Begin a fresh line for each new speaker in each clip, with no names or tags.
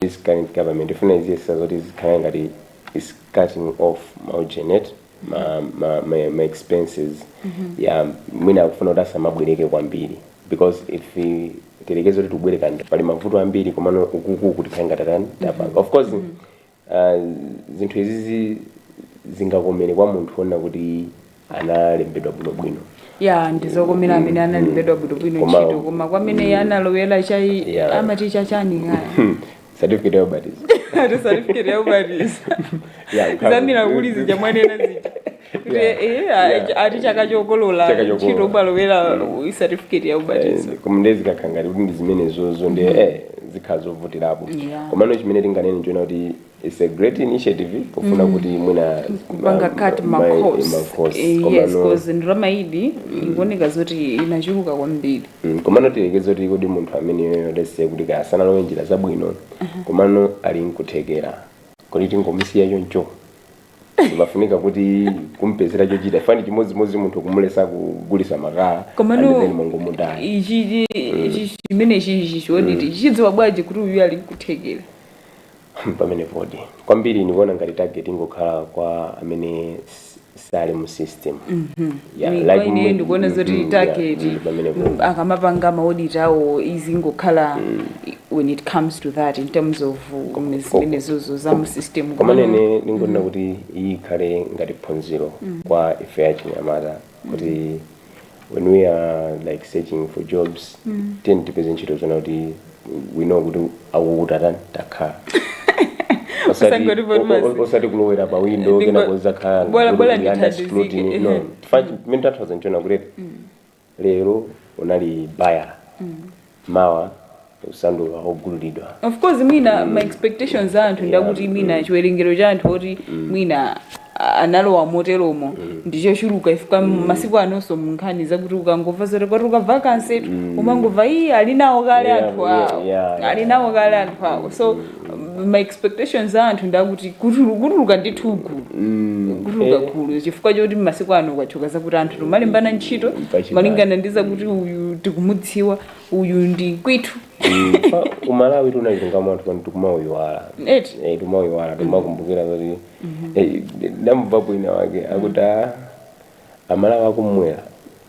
this current government ikufuna kuyesa zoti zikhale ngati it's cutting off maugenet ma, ma, ma, ma expenses ya mwina akufuna kuti asamabwereke kwambiri because if i- tiyerekeze kuti tibwereka ndi pali mavuto ambiri komano ukukuku tikhale ngati atani tapanga of course uh, zinthu izizi zingakomere kwa munthu wonena kuti analembedwa bwinobwino ya ndizokomera amene analembedwa bwinobwino Koma- ntchito koma kwa amene analowera chai Yeah. amati chachani kaya Hmm, certificate ya ubatizo ati certificate ya ubatizo Yeah, ukhala- zamira muli zija mwanena zija kuti Yeah. eh, Yeah. a- ati chaka chokolola Chaka chokolola. ntchito umalowera certificate ya ubatizo Eh, koma ndiye zikakhala ngati kuti ndi zimene zozo ndi eh zikhala zovutirapo Yeah. komano chimene tinganene ndichonena kuti It's a great initiative pofuna kuti mwina kupanga ma- cut ma- ma ma- costs ma costs. Eh, Koma yes no- cause ndalama iyidi ikuoneka zoti inachuluka kwambiri Mm, komano tiyerekeze kuti kodi munthu ameneyo let's say kuti kaya sanalowe njira zabwino komano ali nkuthekera kodi tingomusiya choncho timafunika kuti kumpezera chochita chifukwa ndi chimodzimodzi munthu kumuletsa kugulisa makala and komano then mongomudula ichi ichi chimene chichi kodi tidziwa bwanji kuti uyu ali nkuthekera pamenepodi kwambiri ndikuona ngati target ingokhala kwa amene s- sali mu system Yeah, like ine mwe- ndikuona zoti mhm, target yeah, mm, pamenepo. mm, akamapanga maoditi awo izingokhala i- when it comes to that in terms of um, zimenezozo za mu system komano ine ndingonena kuti iyi ikhale ngati phunziro kwa ife achinyamata kuti when we are like searching for jobs mm. tiyeni tipeze ntchito zonena kuti we know kuti akukuta tani takhala Osati- Osangoti o- o- botmazi. osati kulowera pa window Ndingo- kenako zakhala bola- kuti bola ndi under ndithandizike, scrutiny. No, ehe. fa- mmene tathoza nchonena kuti lero unali bayala mawa usanduka ogululidwa of course mwina ma expectations a anthu ndakuti mwina chiwerengero cha anthu oti mwina a- analowa moteromo ndichochuluka chifukwa masiku anonso munkhani zakuti ukangova zoti kwatuluka vacancy umangova iyi ali nawo kale Yeah, anthu yeah, awo yeah, yeah. ali nawo kale anthu awo so ma expectations a anthu ndakuti kutulu- kutuluka ndithu gulu kutuluka gulu chifukwa choti masiku ano kwachoka zakuti anthu timalembana ntchito Pachibale. malingana ndi zakuti uyu tikumudziwa uyu ndi kwathu Pa- umalawi tinachituamo anthu pano tikumauyiwala eti Eh, tikumauyiwala timakumbukira kuti eh, ndamvapo wina wake akuti "Ah, amalawi akumwera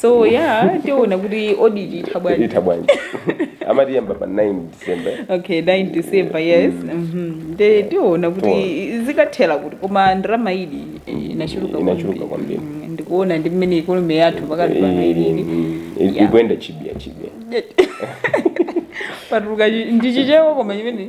so ya tiona kuti audit itha bwanji itha bwanji amati iyamba pa 9 december okay 9 december yes mhm. nde tiona kuti zikathera kuti koma ndalama iyidi inachuluka Inachuluka kwambiri. Mm, ndikuona ndi mmene ikonomi yathu pakali pano ilili Yeah. ikuyenda chibiyachibiya patuluka chi- ndi chichewa koma chimene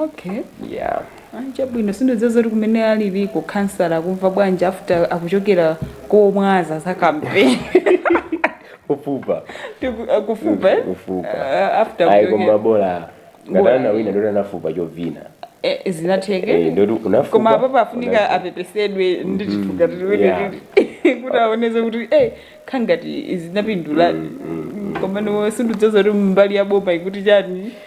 okay yeah chabwino sindikudziwa kuti kumene aliliko khansala akumva bwanji after akuchokera komwaza za kampeni ufupa Tiku- akufupa eh? Ufupa. Ah, after ayi koma kuchokera bola Bola. ngati anawina ndoti anafupa choona Eh, Eh, zinatheka ndoti unafupa koma apa afunika unafupa. apepesedwe ndithu Yeah. kuti aonetse kuti eh ngati zinapinduladi komano sindikudziwa kuti mbali ya boma ikuti chani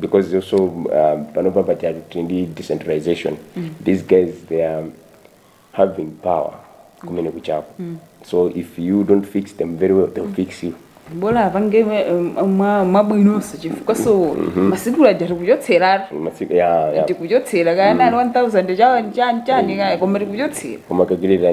because also um, panopa paja tili ndi decentralization these guys they are having power kumene kuchako so if you don't fix them very well they'll fix you bola apange mwabwinonso chifukwa so masiku aja tikuchotseratu Masiku- yeah, yeah. tikuchotsera kaya nali 1000 chani chani chani kaya koma tikuchotsera koma akulira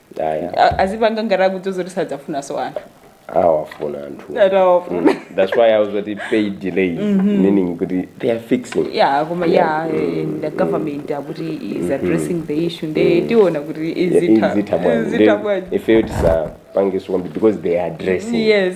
Aya. A- azipanga ngati akudziwa kuti sadzafunanso anthu awafuna anthu That awafuna. Mm. that's why akuti pali delay meaning kuti they are fixing yeah koma yeah eh, the government akuti is addressing the issue nde tiona kuti izitha izitha bwanji. izitha Then bwanji ifeyo tisapange so kwambiri because they are addressing yes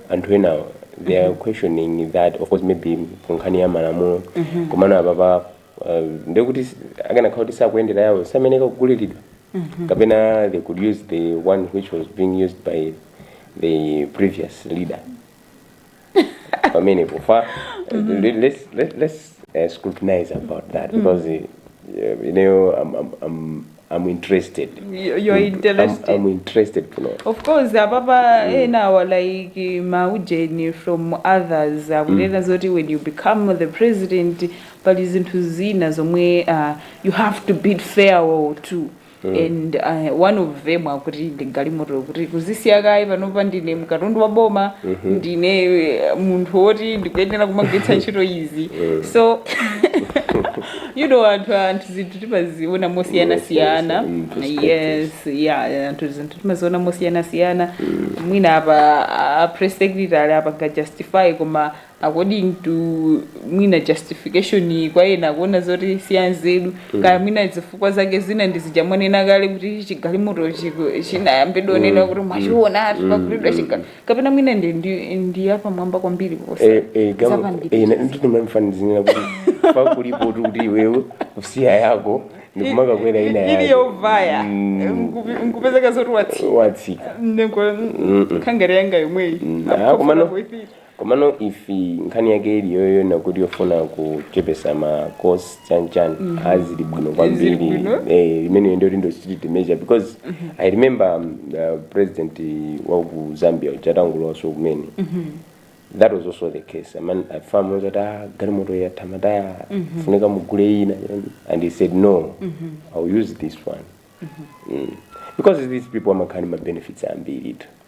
anthu enawa they are questioning that of course maybe ku nkhani ya malamulo komano apapa uh, ndekuti akanakhala kuti akuyendera yawo samenya kugulilidwa kapena they could use the one which was being used by the previous leader pamenepo fa let- let's, let- let's uh, scrutinize about that because uh, you know I'm, I'm, I'm, I'm interested. You- you're I'm- interested. I'm, interested kuno. of course apapa enawa like maujeni from others akunena zoti when you become the president pali zinthu zina zomwe uh, you have to bid farewell to and uh, one of them akuti ndi galimoto kuti kuzisiya kaye panopa ndine katundu wa boma ndine eh, munthu woti ndikuyenera kumagwiritsa ntchito izi so you know anthu anthu zinthu timaziona mosiyanasiyana Yes, yes, in perspective. yes yeah anthu zinthu timaziona mosiyanasiyana mwina apa a press secretary apanga justify koma according to mwina justification kwa ena akuona zoti si yanzeru kaya mwina zifukwa zake zina ndi zija mwanena kale kuti chigalimoto chiku- chinayamba anena kuti mwachiona ati pagulidwa chigalimoto kapena mwina ndi ndi ndi yapamwamba kwambiri kuposa Eh, eh, gama- zapambiri eh, na- ndithu ndimafanizira kuti palibe poti kuti kuti iwewe kusiya yako ndikumakakwera ina ili yake yovaya Mm. Nkupi- nkupezeka zoti watsi watsika ndikwere yanga yomweyi Mm. Ah, Akufuna komano kuipita. komano ifi nkhani yake ili yoyo ndi yakuti yofuna kuchepetsa ma cost chanchan ah zili bwino kwambiri bwino. eh imeneyo ndiyo lindo austerity measure because i remember um, uh, president wa ku zambia atangolowaso kumene that was also the case a man a farm was at ah galimoto yatha ntchito yafunika mugule ina and he said no i'll use this one mm. because these people amakhala ndi ma benefits ambiri tu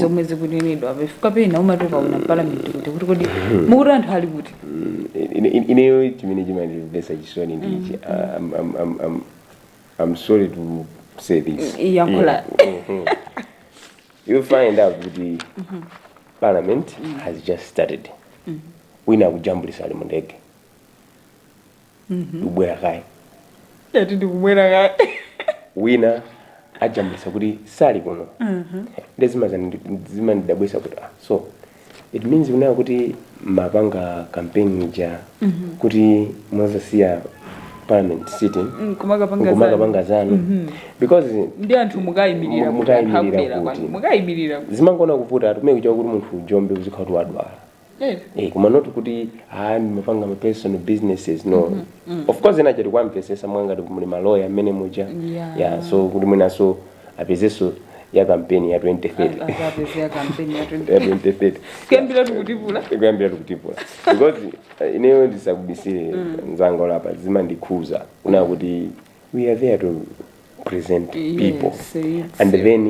zomwe zikunenedwa chifukwa pena umati ukaona m'palamenti kuti kuti kodi mukati anthu ali kuti Ine- ine- ineyo chimene chimandimvesa chisoni ndichi I'm- I'm- I'm- I'm- i'm sorry to say this Yankhula. Mhm. you find out kuti parliament has just started wina akujambulisa ali mu ndege ndikubwera kaye Eti ndikubwera kaye. wina ajambulisa kuti sali kuno nde zimazani- zimandidabwisa kuti ah, so it means munkadziwa kuti mumapanga campaign ija kuti muzasiya parliament sitting Mm, kumakapanga zanu. kumakapanga zanu because Ndi anthu mukayimirira Mu- kuti anthu mukayimirira akubwera kuti. kwanu. Mukayimirira kuti. zimangoona kuvuta timayembekezera kuti munthu ujombe uzikhala uti wadwala Eh. Eh, koma not kuti ah ndimapanga ma personal businesses no of course ena tikuwamvesesa mwangati muli maloya mmene muja Yeah. yeah so kuti mwinaso apezeso ya kampeni ya 2030 akapeze ya kampeni ya ya 20 2030 kuyambira tikutipula kuyambira tikutipula because eh, ineyo ndisakubisire mzanga apa zimandikhuza kunena kuti we are there to present people Yes, it's- and then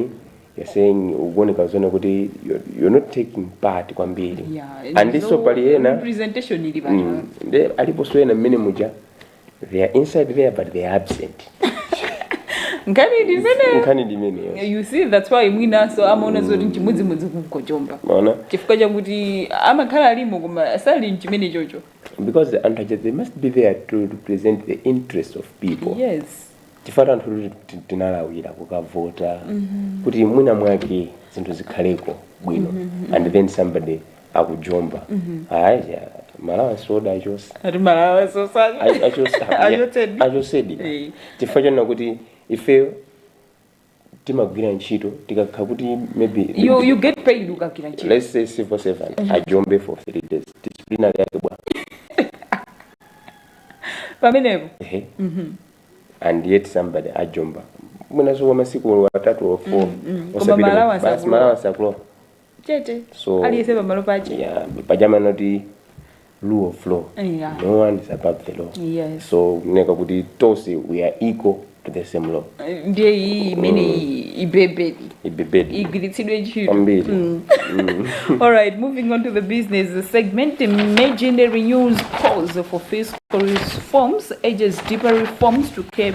you're saying ukuoneka zonena kuti you're, you're not taking part kwambiri Yeah, and so pali ena representation ili pano. mm, they aliponso ena mmene muja they are inside there but they are absent Nkhani ndi zimene- nkhani ndi imeneyo you see that's why mwinaso amaona zoti nchimodzimodzi kungojomba maona chifukwa chakuti amakhala alimo koma sali mchimene chocho because anthu aja they must be there to represent the interest of people yes chifukwa anthu kuti ti- tinalawira kukavota kuti mwina mwake zinthu zikhaleko bwino and then somebody akujomba ayi ma allowance awo achosa ati ma allowance awo achosedi Eh. chifukwa chonena kuti ife timagwira ntchito tikakhala kuti maybe you, you get paid ukagwira ntchito let's say civil servant mm -hmm. ajombe for three days disciplinary yake bwa pamenepo mm -hmm. and yet somebody ajomba mwinaso wa masiku atatu or four mm -hmm. osapita basi ma allowance akulowa chete So- aliyense pamalo pache yeah, pachama noti rule of law Yeah. no one is above the law Yes. so kuneka kuti tonse we are equal to the same law Eh, ndiye iyi imene iyi ibebedi ibebedi igwiritsidwe ntchito kwambiri Alright, moving on to the business segment. The Imaginary News calls for fiscal reforms, urges deeper reforms to curb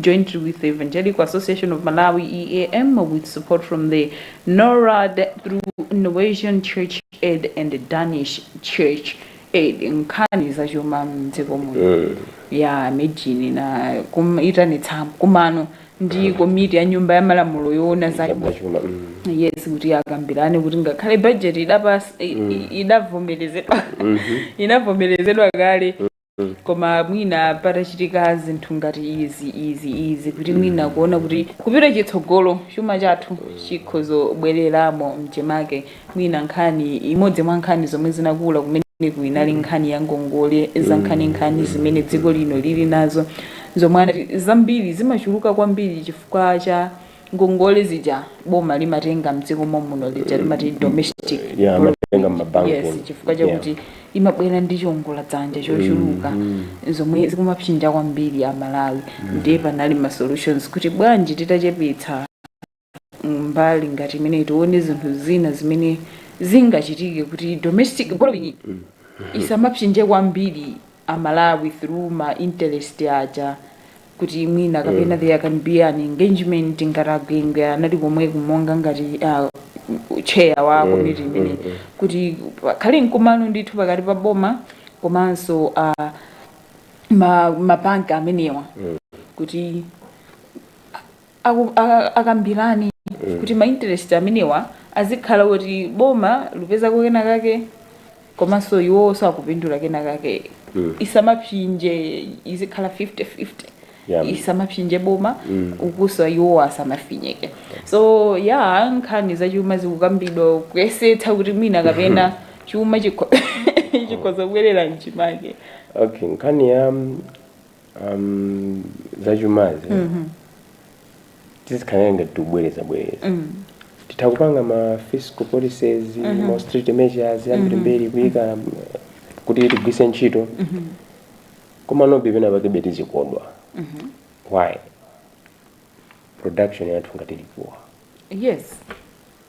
jointly with the Evangelical Association of Malawi, EAM, with support from the NORAD through Norwegian Church Aid and the Danish Church Aid. Nkhani za chuma mdziko muno ya medini inaitanitsa nkumano ndi komiti ya nyumba ya malamulo yoona za zachuma, mm. yes kuti akambirane kuti ngakhale budget idapasa idavomerezedwa inavomerezedwa kale koma mwina patachitika zinthu ngati izi izi izi kuti mwina kuona kuti kupita chitsogolo chuma chathu chikhozobwereramo mchimake mwina nkhani imodzi mwa nkhani zomwe zinakula kumeneku inali nkhani ya ngongole zankhaninkhani zimene dziko lino lili nazo zomwe anati zambiri zimachuluka kwambiri chifukwa cha ngongole zija boma limatenga mdziko mommuno zija timati domestic yeah, amatenga mabanki yes chifukwa chakuti yeah. imabwera ndi chiongola dzanja chochuluka mm -hmm. zomwe zikumapsinja kwambiri aMalawi mm -hmm. ndiye panali ma solutions kuti bwanji titachepetsa mbali ngati imeneyi tione zinthu zina zimene zingachitike kuti domestic borrowing mm -hmm. isamapsinje kwambiri aMalawi through ma interest aja kuti mwina kapena mm. there can be an engagement ngati a Gwengwe anali komweko monga ngati uh, chair wa mm, komiti mm, imeneyi mm, kuti pakhale mkumano ndithu pakati pa boma komanso uh, mabanki amenewa mm. kuti aku, akambirane mm. kuti ma interest amenewa azikhala kuti boma likupezako kena kake komanso iwoso akupindula kena kake mm. isamapsinje izikhala 50 50 yeah. isamapsinje boma mm. ukuso iwo asamafinyeke so ya yeah, nkhani zachuma zikukambidwa kuyesetsa kuti mwina kapena chuma chikhoza kubwerera mchimake okay nkhani ya um, zachumazi tizikhala ngati tikubwereza bwereza titha kupanga ma fiscal policies ma austerity measures ambirimbiri kuyika um, kuti tigwiritse ntchito komanobe pena pakebe tizikodwa why production yathu ngati likuwa yes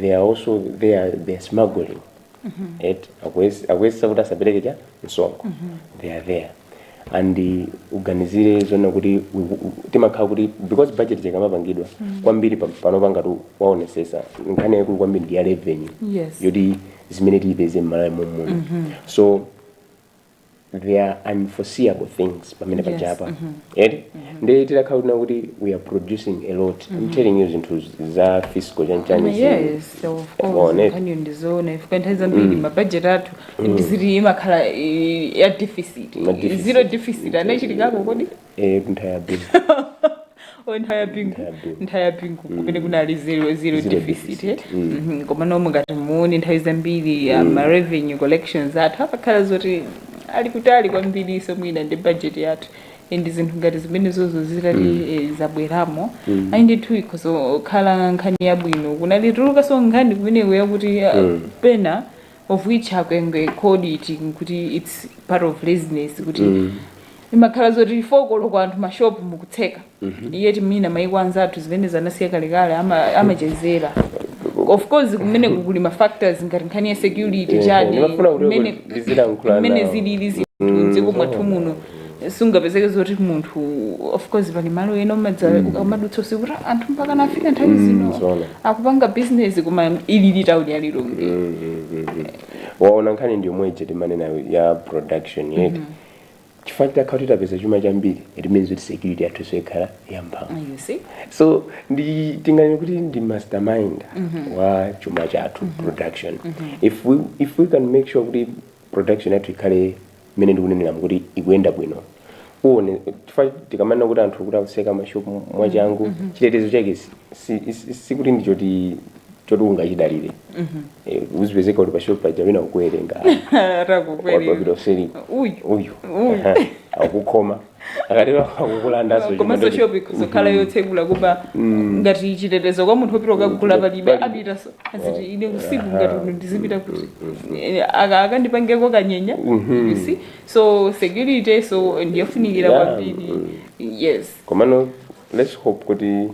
they are also they are, they are smuggling eti akuyes- akuyesesa kuti asapereke cha msonkho they are there and uh, kuganizira zoona kuti u- u- timakhala kuti because budget ikamapangidwa kwambiri pa- panopa ngati waonesesa nkhani yaikulu kwambiri ndi ya revenue Yes. yoti zimene tiyipeze mMalawi mommuno so there are unforeseeable things pamene Yes, pachapa mhm. eti ndiye titakhala kuti kuti we are producing a lot i'm telling you zinthu za fiscal chanichani zi- yes of Waone. course nkhaniyo ndizoona chifukwa nthawi zambiri mabajeti athu ndiziti imakhala eh, ya deficit Ma deficit. zero deficit anachitikako kodi Eh, kunthaya bingu. Oh, nthawi ya bingu Nthawi ya bingu. nthawi ya bingu kumene kunali zero, zero Zero deficit deficit, eh? mm. Mhm, koma momwe ngati muone nthawi zambiri uh, ma revenue collections athu apakhala zoti ali kutali kwambiri so mwina ndi budget yathu and zinthu ngati zimenezozo zitati eh, zabweramo ayi ndithu ikhoza kukhala nkhani yabwino kunatulukaso nkhani kumeneko yakuti uh, pena of which akwengwe called it kuti its part of laziness kuti mm. imakhala zoti four koloko anthu mashopu mukutseka mm -hmm. yet mwina maiko anzathu zimenezo anasiya kalekale amachezera ama of course kumene kukuli ma factors ngati nkhani ya security chani kumene zilili zinthu mm. dziko mwathu muno sungapezeke zoti munthu of course pali malo ena umadza ukamadutsa usiku kuti anthu mpaka nafika nthawi zino zoona. akupanga business koma ilili town ya lilongwe Mm, mm, mm, mm. waona nkhani ndi yomwe ije timanena ya production yathu chifukwa titakhala kuti tapeza chuma chambiri it means kuti security yathu so ikhala yamphamvu you see so nde tinganene kuti ndi mastermind wa chuma chathu production if we if we can make sure kuti production yathu ikhale mmene ndikuneneramu kuti ikuyenda bwino uone chifukwa tikamanena kuti anthu kuti akutseka mashopu mwachangu chitetezo chake si- si- si- sikuti ndi choti choti ungachidalire Eh, uzipezeka kuti pashopu paja wina akukuwerenga atakukwerera wapapita useri uyu uyu Uyu. Aha. akukhoma akatero akukulandaso chuma komanso ndoti- shop ikhoza kukhala yotsegula koma ngati chitetezo kwa munthu opita kukagula palibe Pali- apitaso aziti ine usiku ngati uno ndizipita kuti Eh, aka- akandipangeko kanyenya you see so security so ndiyofunikira Yeah, kwambiri yes komano let's hope kuti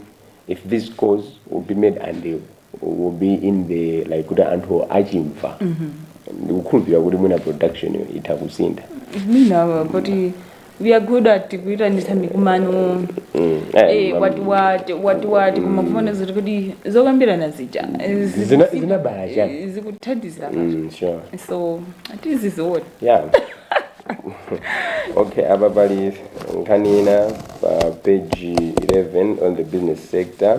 if this calls will be made until will be in the like kuti anthu achimva ndikukhulupirira kuti mwina production yo itha kusintha mwina kuti we are good at kuitanitsa mikumano Mm, eh, eh, mam- wati wati wati wati koma kufuna zoti kuti zokambirana zija eh, zi- Zina- zinabala chani? eh, zikuthandiza Mm, sure so tiziziona yeah okay apa pali nkhani ina pa page 11 on the business sector